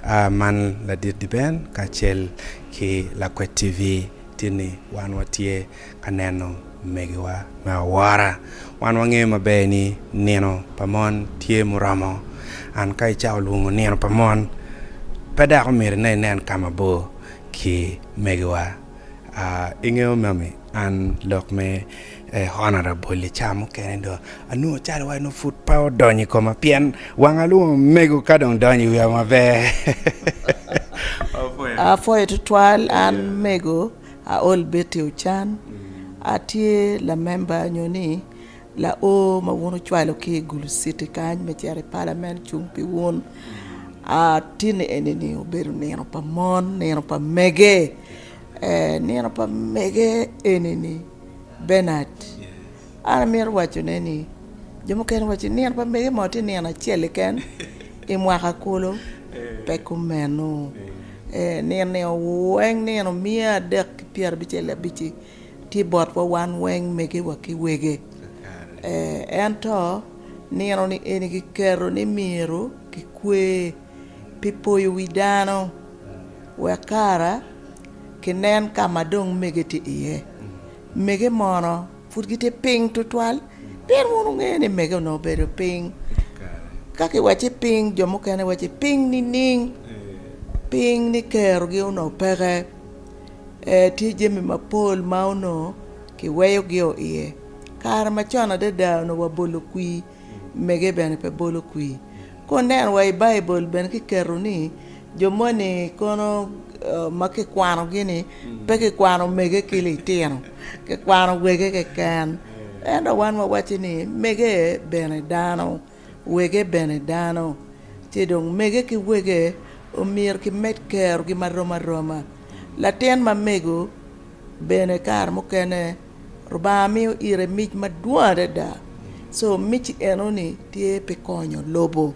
A Man ladit Diben kacel ki Lakwet TV tye ni wan watye ka neno megiwa me awora. Wan wangeyo maber ni nino pa mon tye muromo. An ka icako lwongo nino pa mon, pe dok omyero ine inen ka mabor ki megiwa. A Ingeyo mami, an lok me. Eh honorable i ca mukene do anongo cal wa nongo pud pe odonyo i koma pien wanga lung omego ka dong donyo i wiya maber. Apwoyo. Apwoyo tutwal an mego Aol Betty Ochan atye lamemba nyo ni lao ma wun wucwalo ki i Gulu city kany me cito i palament cung pi wun. Atye ni eni ni obedo nino pa mon, nino pa mege. Nino pa mege eni-ni Benard, an amito wacone ni jo mukene giwaco ni nino pa mege mo tye nino acel keken i mwaka kulu, pe kumeno. Nino-ni weng nino miya adek ki pyera abicel ki abic-ci tye botwa wan weng megewa ki wege. Ento nino-ni eni kiketo ni myero kikwe. pi poyo wi dano wek kara kinen ka ma dong mege tye iye. Mege mono pud gitye piny tutwal? Pien wun wungeyo ni mege onongo obedo piny. Ka kiwacci piny, jo mukene wacci piny nining? Piny ni kerogi onongo peke, ee, tye jami mapol ma onongo kiweyogio iye. Kare macon adada onongo wabolo kwir Mege bene pe bolo kwir. Ka wuneno wa i Baibul bene kiketo ni jo moni kono ma kikwanogi ni pe kikwano mege ki litino, kikwano wege keken. Ento wan wawaco ni mege bene dano, wege bene dano, ci dong mege ki wege omyero kimed kerogi marom aroma. Latin ma mego bene kare mukene. Lubanga miyo ire mic madwong adada co mic enoni tye pi konyo lobo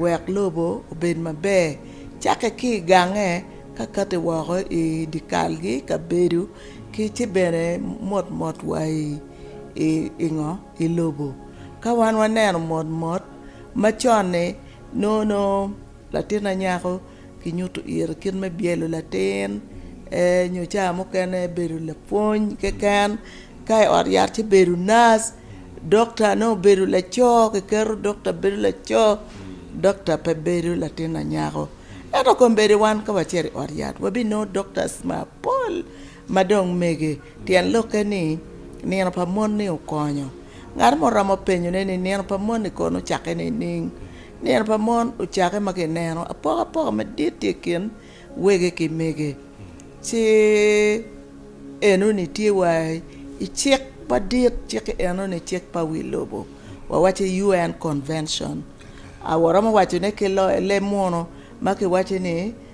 wek lobo obed maber cakke ki i gange ka kati woko i dye kalgi i kabedo ki ci bene motmot wa i ngo i lobo ka wan waneno motmot macon-ni nongo latin anyaka kinyuto ire kit me byelo latin nyo cawa mukene bedo lapwony keken ka i ot yat ci bedo nac dokta nongo obedo laco kiketo dokta bedo laco dokta pe bedo latin anyaka ento kombeddi wan ka wacito i ot yat wabinongo doktac mapol. Ma dong mege, tyen lokke ni, nino pa mon-ni okonyo. Ngat mo romo penyone ni, 'Nino pa mon-ni kono ocakke nining? Nino pa mon ocakke ma kineno apokapoka madit tye i kin wege ki mege. Ci enoni tye wa i cik madit, cik enoni cik pa wi lobo, wawacci ni UN convention. Waromo wacone ki leb munu ma kiwaco ni,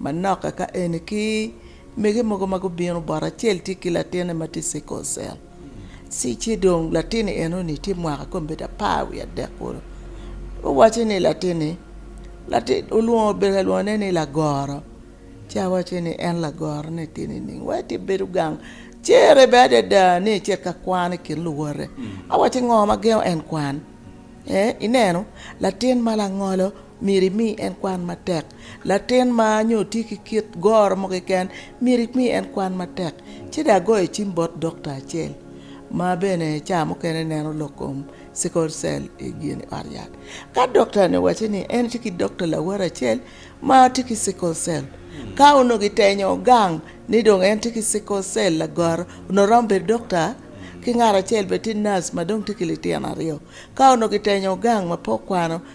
Manok kaka eni ki mege mogo ma gubino bot, acel tye ki latine ma tye sickle cell ci ci dong latini enoni tye mwaka kong bedo apar wiye adek kulu owaco ni latini lati olwongo obedo ka lwongo ne ni lagoro ci awaco ni en lagoro ne tye nining wai tye bedo gang cere bene adada ni ecit ka kwan i kin luwote awaco ngo ma gengo en kwan ee ineno latin ma langolo Myero imi en kwan matek. Latin ma nyo tye ki kit goro mo keken, myero imi en kwan matek. Ci dong agoyo cim bot dokta acel ma bene ca mukene neno lok kom sickle cell i ot yat. Ka dokta-ni owaco ni en tye ki dokta lawot acel ma tye ki sickle cell, ka onongo gitenyo gang ni dong en tye ki sickle cell lagoro, onongo romo bedo dokta ki ngat acel bene tye nac ma dong tye ki litino aryo. Ka onongo gitenyo gang ma pe okwano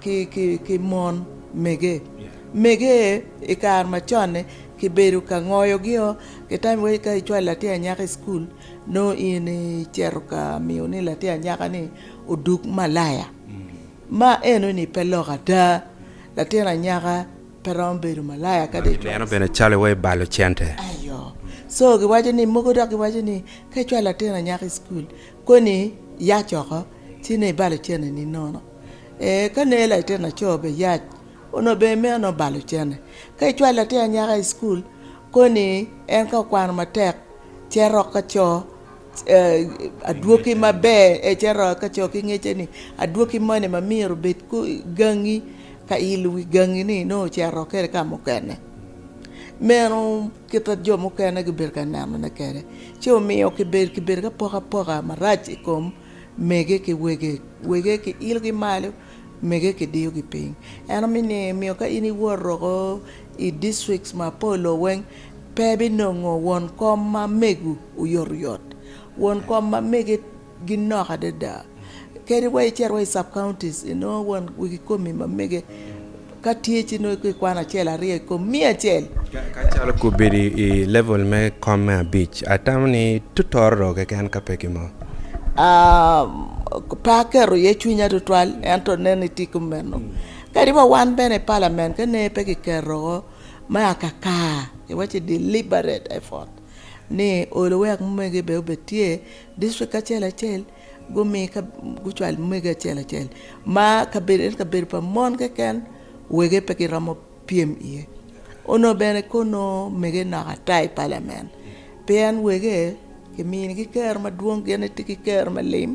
ki mon mege mege i kare macon-ni kibedo ka ngoyogio ki tam iwaci ka icwalo latin anyaka i cukul nongo in icito ka miyo ni latin anyaka ni odug malaya ma eno ni pe lok ada latin anyaka pe romo bedo malaya ka dong icwalo i cukul ayo so giwaco ni mogo dok giwaco ni ka icwalo latin anyaka i cukul koni yac oko ci nen ibalo cene ni nono. Ee, ka neye latin laco bene yac, onongo bene meno nongo bal ocene. Ka icwalo latin anyaka i cukul, koni ni en ka okwano matek ce rok ka co adwoki maber, ce rok ka co ki ngecce ni adwoki moni ma myero obed gangi ka ilo wi gangi-ni nongo ocito rok kwede ka mukene. Meno kite jo mukene gibedo ka nenone kwede, ci omiyo kibedo ki bedo ki apokapoka marac i kom. Mege ki wege, wege ki ilogi malo, mege ki diyogi piny. Eno mi ni miyo ka in iwot roko i districts ma polo weng pe bi nongo won kom ma megu oyot oyot. Won kom ma mege gi nok adada. Kadi wa icito wa i sub counties inongo won wegi komi ma mege. Ka tye ci nongo ikwano acel aryo i kom miya acel. Ka calo kobedo i level me kom me abic, atamo ni tutorro keken ka pe ki mo. Aa, pe aketo iye cwinya tutwal, ento nen ni tye kumeno. Kadi wa wan bene i Parliament ka nene pe kiketo me akaka, iwacci deliberate effort, ni olo wek omege bene obed tye, district acel acel, Gumi ka gucwal mege acel acel ma kabedo ento kabedo pa mon keken wege pe giromo pyem iye onongo bene kor nongo mege nok ata i palamen pien wege kiminigi kero madwong gin gitye ki kero me lim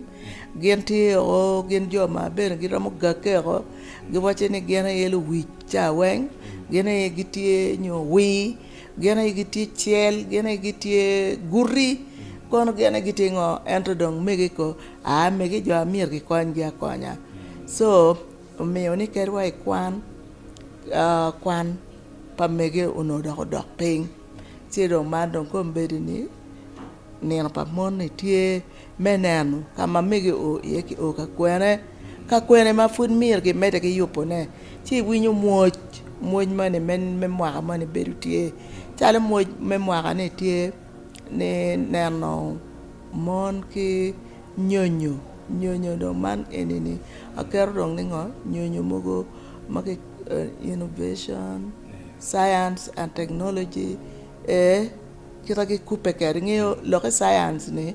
gin tye o gin jo ma bene giromo gagge o giwaco ni gin aye luwic cawa weng gin aye gitye nyo owii Gin aye gitye cel, gin aye gitye guti, kono gin aye gitye ngo? Ento dong mege ko, aa mege jo a myero gikonyngi akonya. Co omiyo ni kadi wa i kwan, kwan pa mege onongo dok odok piny ci dong man dong kono bedo ni nino pa mon ni tye. me neno ka ma mege oo iye ki oo ka kwene, ka kwene ma pud myero ki mede ki yubone ci iwinyo mwoc, mwoc moni me mwaka moni bedo tye calo mwoc me mwaka ni tye ni neno mon ki nyonyo, nyonyo dong man eni ni aketo dong ni ngo nyonyo mogo ma ki innovation, science and technology ee. Kit ma gikubbe kwede, ingeyo lokke caience ni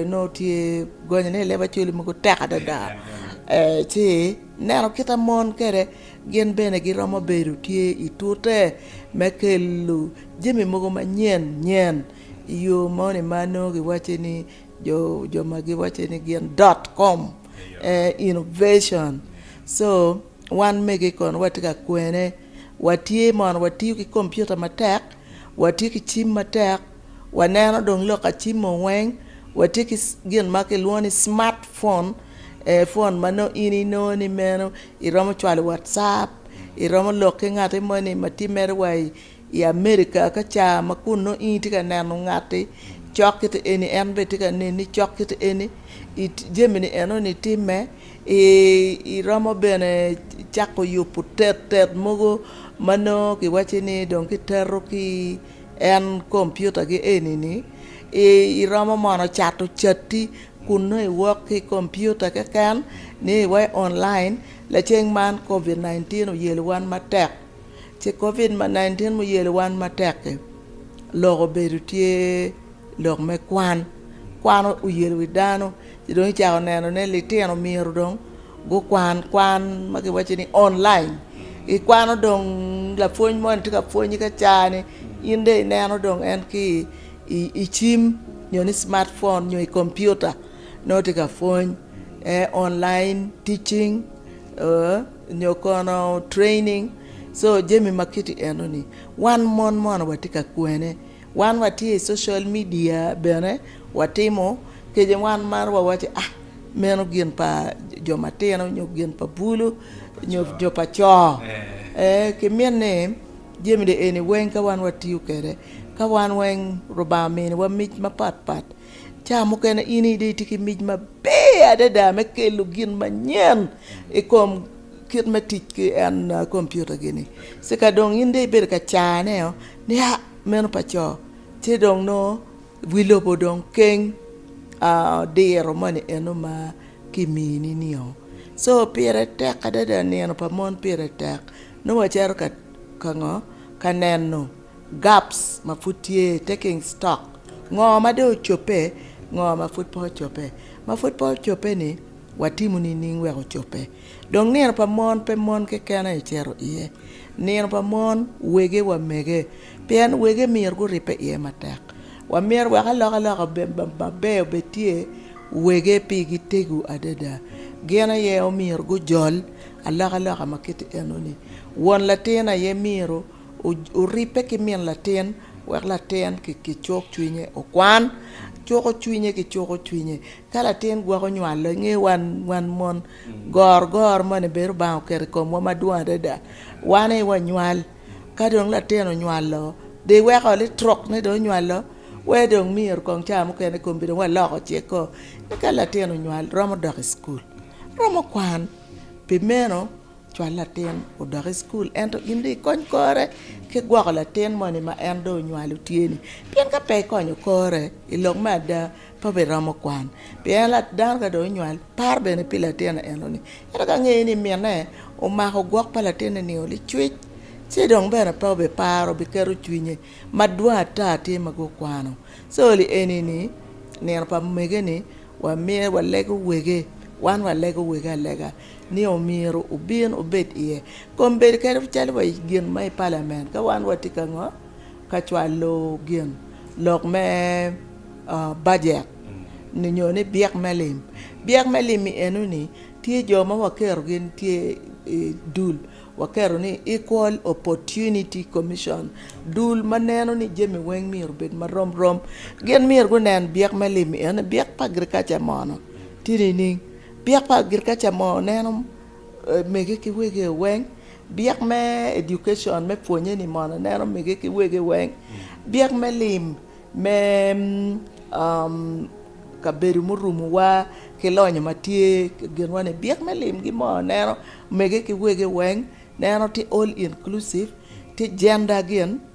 nongo tye gonye ni leb-acwele mogo tek adada ci ineno kit ma mon kwede gin bene giromo bedo tye i tute me kelo jami mogo manyen nyen i yo moni ma nongo giwaco ni jo ma giwaco ni gin dot kom innovation co wan mege kono watye ka kwene watye mono watiyo ki kompiuta matek. Watye ki cim matek, waneno dong lok acimo weng, watye ki gin ma kilwongo ni smart phone, phone ma nongo in inongo ni meno iromo cwalo watcap, iromo lok ki ngati moni ma tye mere wa i America ka ca ma kun nongo in itye ka neno ngati cok kit eni en bene tye ka neni cok kit eni, jami ni enoni timme. Iromo bene cako yubu tettet mogo ma nongo ki wacci ni dong ki teto ki en kompiuta gi eni ni iromo mono cato cati kun nongo i wok ki kompiuta keken ni iwa i online lacen man covid 19 oyelo wan matek ci covid 19 ma oyelo wan matek ki lok obedo tye lok me kwan kwan oyelo wi dano. Ci dong icako neno ni litino myero dong gukwan kwan ma kiwaco ni online, ikwano dong lapwony moni tye ka pwonyi ka caa-ni in dong ineno dong en ki i cim nyo ni cimat phone nyo i kompiuta nongo tye ka pwony online teaching oo nyo kono training, so jami ma kiti eno-ni wan mon mono watye ka kwene. Wan watye i social media bene watimo kece wan maro wa waco ah meno gin pa jo matino nyo gin pa bulu nyo jo pa co ee ki mit ni jami ni eni weng ka wan watiyo kwede ka wan weng Lubanga omini wa mic mapat pat ca mukene in aye dong itye ki mic maber adada me kelo gin manyen i kom kit me tic ki en kompiuta gini ci ka dong in dong ibedo ka cane o Nia meno pa co, ci dong nongo wi lobo dong keng diro moni eno ma kimini nio. Co pire tek adada nino pa mon pire tek nongo wacito ka ngo ka neno gaps ma pud tye taking stock ngo ma dong ocobbe ngo ma pud pe ocobbe ma pud pe ocobbe ni watimo nining wek ocobbe. Dong nino pa mon pe mon keken aye cito iye, nino pa mon wege wa mege, pien wege myero guribbe iye matek. Wa myero wek alokaloka maber obed tye wege pi gi tego adada. Gin aye omyero gujol alokaloka ma kiti eno ni. Won latin aye myero oribbe ki min latin wek latin ki cuk cwinye okwan cuko cwinye ki cuko cwinye Ka latin gwok onywalo, i nge wan wan mon, gorgor moni bene Lubanga oketo i komwa madwong adada. Wan aye wanywal, ka dong latin onywalo, dong iweko litruk ni dong onywalo, wee dong myero kong caa mukene i kombeddi dong waloko cekko. Eka latin onywal, romo dok i cukul, romo kwan. Pi meno. Cwal latin odok i cukul ento in dong ikony kore ki gwoko latin moni ma en dong onywalo tye-ni. Pien ka pe ikonyo kore i lok me ada, pe obiromo kwan. Pien dano ka dong onywal, paro bene pi latin eno-ni. Ento ka ngeye ni minne omako gwok pa latinne nio licwic, ci dong bene pe obiparo, obiketo cwinye madwong ata tye ma gukwano. Calle eni-ni, nino pa mege-ni wamiye walego wege, wan walego wege alega. ni omyero obin obed iye kom bedo kadi calo wa gin ma i palament ka wan wa tye ka ngo ka cwalo gin lok me bajet ni nyo ni byek me lim byek me lim i eno ni tye jo ma wa keto gi tye i dul wa keto ni equal opportunity commission dul ma neno ni jami weng myero obed ma rom rom gin myero gunen byek me lim eno ni byek pa agriculture mono tye nining Byek pa agriculture mo neno mege ki wege weng, byek me education me pwonye ni mono neno mege ki wege weng, byek me lim me kabedo murumo wa ki lonyo ma tye i ginwa ni byek me lim gi mono neno mege ki wege weng neno tye all inclusive tye gender gin.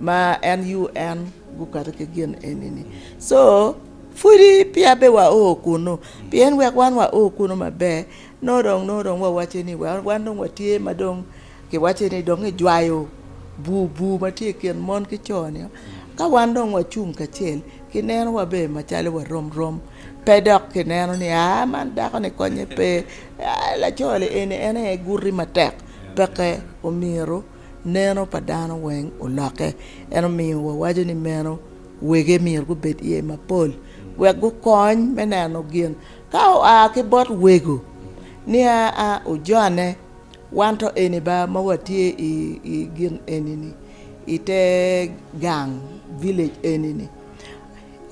ma en UN gukato ki gin eni-ni co pwodi peya be wa oo kunu pien wek wan wa oo kunu maber nongo dong nongo dong wawaco ni wa wan dong watye ma dong kiwaco ni dong ijwayo bur bur ma tye i kin mon ki co-ni ka wan dong wacung kacel kineno wa ber macalo wa rom rom pe dok kineno ni aa man dako-ni konye pe laco-ni eni en aye guti matek peke omyero neno pa dano weng olokke. En omiyo wawaco ni meno wege myero gubed iye mapol wek gukony me neno gin ka oa ki bot wego niya a ojone wan to eni ba ma watye i gin eni-ni i te gang village eni-ni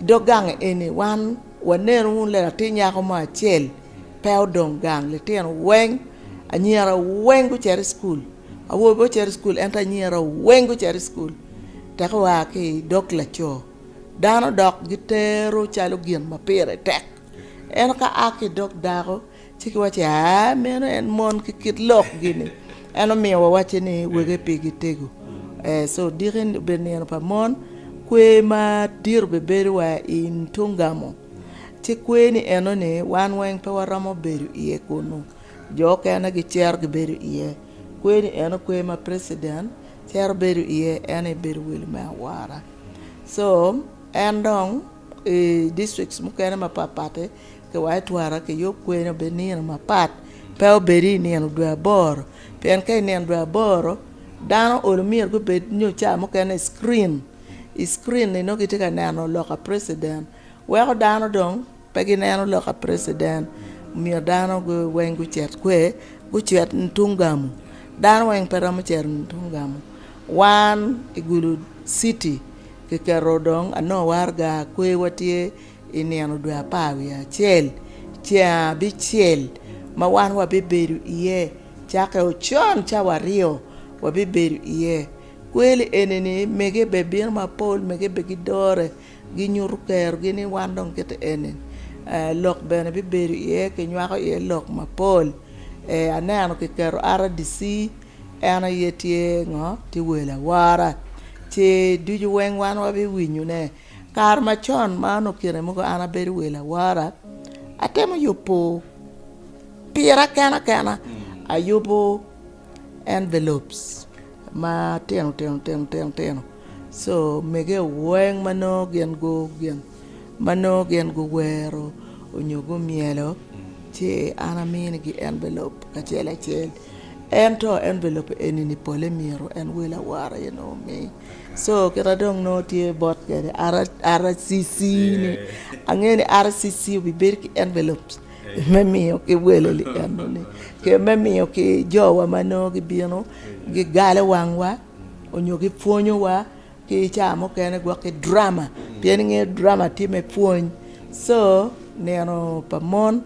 dog gang eni wan wanenu wunu latin nyako mo acel Pe odong gang, litino weng, anyira weng gucito i cukul. Awobi pe ocito i cukul ento anyira weng gucito i cukul. Teka oa ki i dog laco, dano dok gitero calo gin ma pire tek. Ento ka a ki i dog dako, ci kiwaco ni, aa, meno en mon ki kit lokgi-ni. En omiyo wawacce ni wege pigi tego. Ee, co diki obedo nino pa mon, kwer madit obibedo wa i tung gamo. Ci kwer ni enoni wan weng pe waromo bedo iye kunnu, jo okene gicito gibedo iye. Kwer ni eno kwer ma president cito bedo iye en aye bedo welo me awora. So en dong i districts mukene mapat patti kiwaco twara kiyub kwer ni obed nino mapat pe obedi i nino dwe aboro pien ka i nino dwe aboro dano olo myero gubed nyo ca mukene i screen. i screen ni nongo gitye ka neno loka president weko dano dong pe gineno loka president omiyo dano weng gucit kwe gucit tung gamu dano weng pe romo cito tung gamu wan i gulu city kiketo dong anongo waraga kwewa tye i nino dwe apar wiye acel ceng abicel ma wan wabibedo iye cake ocon cawa aryo wabibedo iye. Kweli eni ni mege bene bino mapol, mege bene gidore, ginyuto kerogi ni wan dong kite eni lok bene bibedo iye, kinywako iye lok mapol. Aneno kiketo RDC en aye tye ngo, tye wel awora ci ducu weng wan wabiwinyo ne. Kare macon ma nongo kine mogo an abedo wel awora atemo yubo pira kena kena ayubo. envelopes ma tino tino tino tino tino so mege weng ma nongo gin gu gin ma nongo gin guwero onyo gumyelo ci an amini gi envelop acel acel ento envelop eni ni pole myero en wel awara aye nongo omi so kita dong nongo tye bot kwede RCC ni ange ni RCC obi bedo ki envelop me miyo ki welo lienoni ki me miyo ki jowa ma nongo gibino gigalo wangwa onyo gipwonyowa ki cawa mukene gwok ki drama pien ingeyo drama tye me pwony so nino pa mon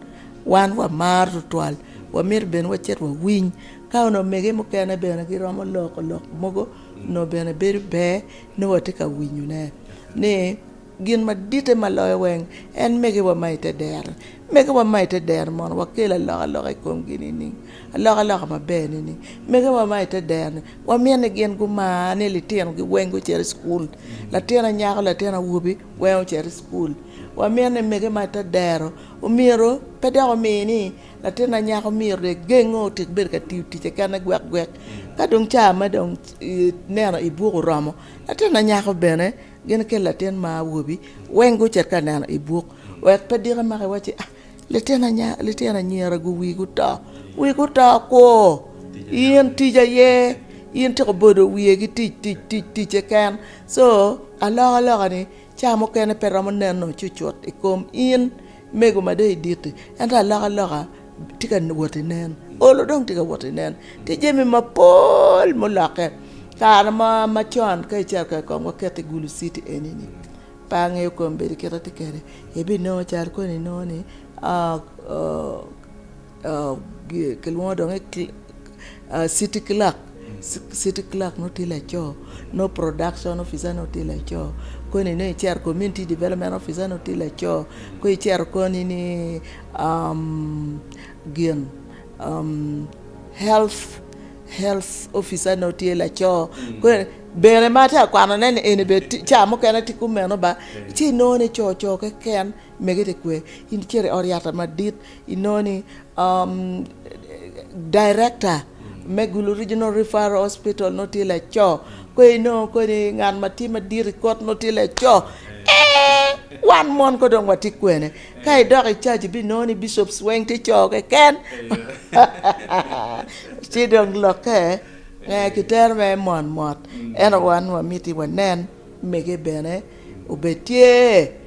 wan wamaro tutwal wamito bene wacit wawiny ka onongo omege mukene bene giromo loko lok mogo onongo bene bedo ber nongo watye ka winyone ni Gin maditte ma loyo weng en megiwa ma i te dero-ni. Megiwa ma i te dero-ni mono wakel alokaloka i komgi nining? Alokaloka maber nining? Megiwa ma i te dero-ni wamito ni gin gumar ni litinogi weng gucit i cukul. Latin anyaka, latin awobi weng ocit i cukul. Wamito ni mege ma i te dero omyero pe dok omi ni latin anyaka omyero dong egenge otik bedo ka tiyo ticce kene gwekgwek. Ka dong caa me dong neno i buk oromo, latin anyaka bene Gin ki latin ma awobi weng gucit ka neno i buk, wek pe diki maki wa ci, Litino anyira gu wii guto, wii guto kwo, in tic aye, in tika obodo wiye ki tic tic tic tic keken. So alokaloka ni ca mukene pe romo neno cucut i kom in. Mego ma deyi dit-ti, ento alokaloka tye ka wot ki nen, olo dong tye ka wot ki nen. Tye jami mapol ma olokke. Kare mo macon ka icito kek kong waket i Gulu citi eni-ni, pe angeyo kombedo kit ma atye kwede, ibinongo cal koni nongo ni. Kilwongo dong ni city clerk, city clerk nongo tye laco, nongo production officer nongo tye laco, koni nongo icito community development officer nongo tye laco, kong icito koni ni gin health health officer nongo tye laco, bene ma atye ka kwanone ni eni bene ca mukene tye kumeno ba ci inongo ni co co keken. Mege te kwe, in icito i ot yata madit inongo ni director me Gulu Regional Referral Hospital nongo tye laco, kong inongo kong ni ngat ma tye madit i kot nongo tye laco eeh wan mon kong dong watye kwene, ka idok i caji ibinongo ni bishops weng tye co keken ci dong lokke eeh kitero mere mot mot ento wan wamiti wanen mege bene obed tye.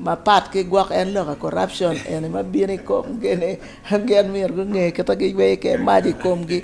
Mapat ki gwok en loka corruption eni ma bino i kom gi ni gin myero gunge kit ma giyweyo kwede mac i kom gi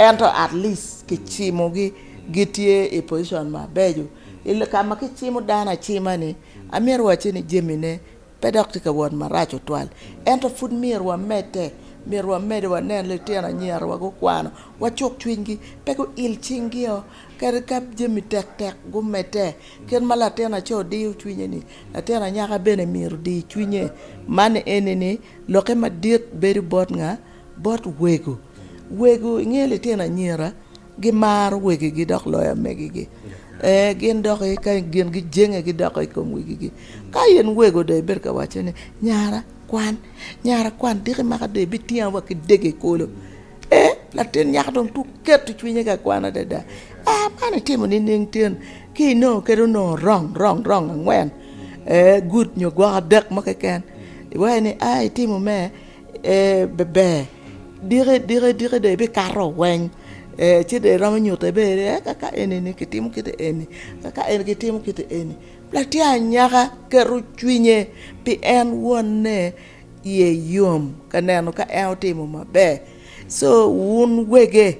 ento at least ki cimo gi gitye i position mabeco i ka ma ki cimo dano acima ni amyero wacci ni jami ne pe dok tye ka wot maraco tutwal ento pud myero wa medde myero wa mede wa nen litino anyira wa gukwano wa cuk cwiny gi pe gu il cing gi o kadi ka jami tek tek gumedde kit ma latin aco diyo cwinye ni. Latin anyaka bene myero di cwinye, man eni ni, lokke madit bedo bot nga? Bot wego. Wego, ingeyo litino anyira gimaro wegigi dok loyo amegigi. Ee, gin dok ka gin gijenge gidoko i kom wegigi. Ka in wego dong ibedo ka waco ni, Nyara, kwan. Nyara, kwan, diki maka dong ibitinga wa ki dege kolo. Ee, latin nyako dong tuk keto cwinye ka kwan adada. Aa, man itimo nining tin ki inongo kadi onongo rong rong rong angwen, ee, good nyo gwok adek mo keken? Iwaco ni, Aa, itimo me, ee, beber. Diki diki diki dong ibikato weng, ee, ci dong iromo nyutte bene ni, ee, ka ka eni-ni kitimo kite eni, ka ka eni kitimo kite eni. Latin anyaka keto cwinye pi en wonne. iye yom ka neno ka en otimo maber so wun wege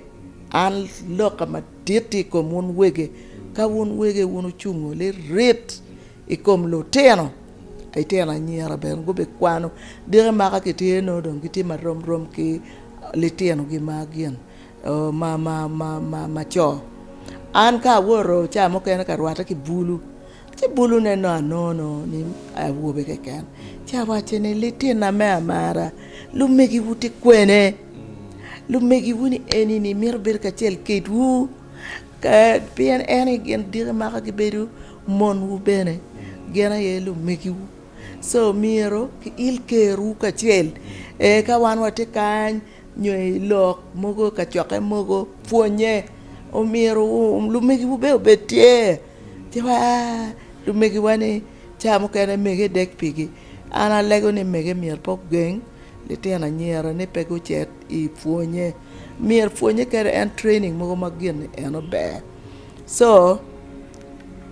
an loka madit tye i kom wun wege ka wun wege wun ocungo lirit i kom lutino litino anyira bene gubikwano diki ma ka kitye nongo dong gitye ma rom rom ki litinogi ma gin ma ma ma ma co an ka awoto ca mukene ka rwatte ki bulu Ci bulune nongo anono ni awobe keken, ci awaco ni, Litina me amara, lumegiwu tye kwene? Lumegiwu ni eni-ni mito bedo kacel kedwu? Ka, pien en aye gin diki maka gibedo monwu bene, gin aye lumegiwu. Co, myero kiil kerwu kacel, ee, ka wan watye kany, nyo i lok mogo, kacokke mogo, pwonnye. Omyero lumegiwu bene obed tye. Tika lumegiwa ni cawa mukene mege dek pigi? An alego ni mege myero pe ogeng litino anyira ni pe gucit i pwonye, myero pwonye kadi en training mogo ma gin en ober co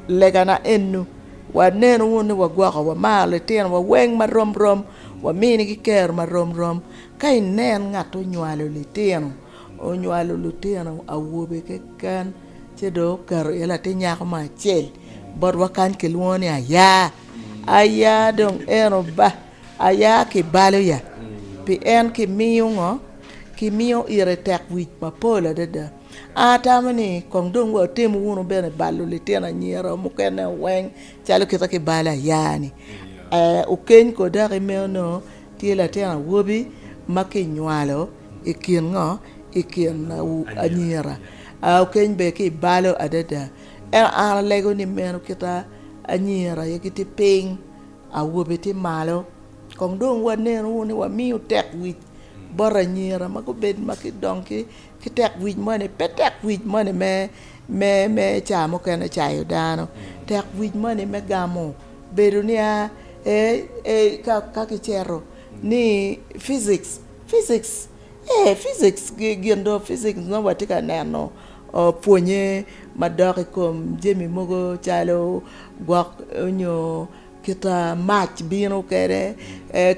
legana enu wanenu wunu ni wagwoko wamaro litinowa weng ma romrom waminigi kero ma romrom ka inen ngat ma onywalo litino Onywalo lutino awobe keken ci dong oketo iye latin nyako mo acel botwa kany kilwongo ni Aya. Aya dong en oba Aya kibalo ya pi en kimiyo ngo kimiyo ite tekwic mapol adada. An atamo ni kong dong wa otim wunu bene balo litino anyira mukene o weng calo kite kibalo Aya ni. Okeny ko dok imeo nongo tye latin awobi ma kinywalo I kin ngo? I kin anyira. Aa okeny ber ki i balo adada. Ento an alego ni meno kita anyira aye gitye piny, awobe tye malo. Kong dong wanen wunu ni wamiyo tekwic bot anyira ma gubed ma gidong ki tekwic moni, pe tekwic moni me ca mukene cayo dano, tekwic moni me gamo bedo nia ee ka kicito ni physics. Physics, ee physics gin dong physics nongo watye ka neno pwonye madok i kom jami mogo calo gwok nyo kita mac bino kwede,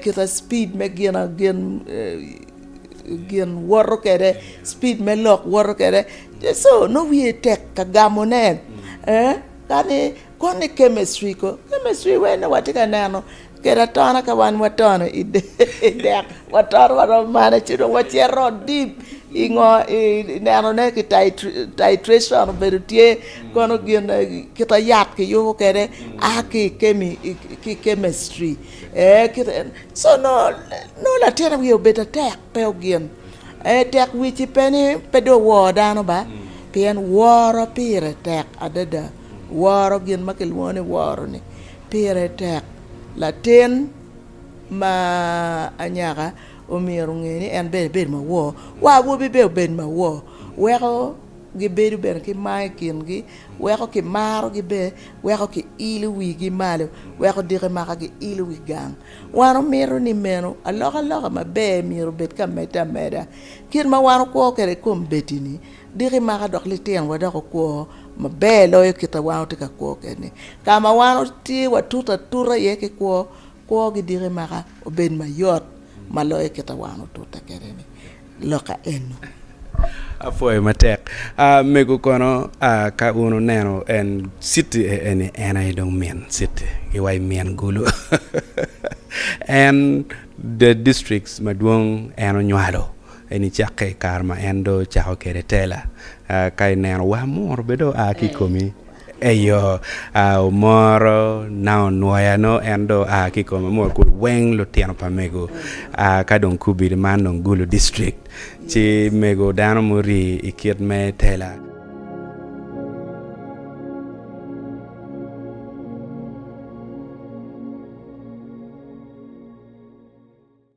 kita cipid me ginagin gin woto kwede cipid me lok woto kwede, co nongo wiye tek ka gamone kadi Kwano i kemestri ko. Kemestri wene watye ka neno kede atona ka wan watono i dek watono waromo mane ci dong wacito deep i ngo i neno ne ki titration obedo tye kono gin kita yat kiyubo kede a ki i kemi ki i kemestri ee kit eno so nongo latin wiye obedo atek pe ogin ee tek wic-ci pe ni pe dong owor dano ba pien woro pire tek adada. Woro gin ma kilwongo ni woro-ni pire tek. Latin ma anyaka omyero onge ni en bene ebedo mawor, wa awobi bene obed mawor. Weko gibedo bene ki mar i kingi, weko kimarogi bene, weko kiilo wigi malo, weko diki maka giilo wi gang. Wan omyero ni meno alokaloka maber myero obed ka medde ameda. Kit ma wan wokwo kwede i kom bed-di-ni, Diki maka dok lityen wa dok okwo maber loyo kit ma wan watye ka kwo kwede-ni. Ka ma wan watye watutu atuta iye ki kwo, kwogi diki maka obed mayot ma loyo kit ma wan watute kwede-ni. Loka eno. Apwoyo matek. Ah, mego kono, ah, ka un wuneno en, citi e eni, en aye dong min citi, gi wa i min gulu. En, the districts madwong en onywalo. En icakke i kare ma en dong ocako kwede tela. Ka ineno wa, muru bene dong oa ki i komi. Eyo, omoro na onwoya nongo en dong oa ki i kome. Muru kulu weng lutino pa mego ka dong kubidi man dong Gulu District ci mego dano muri i kit me tela.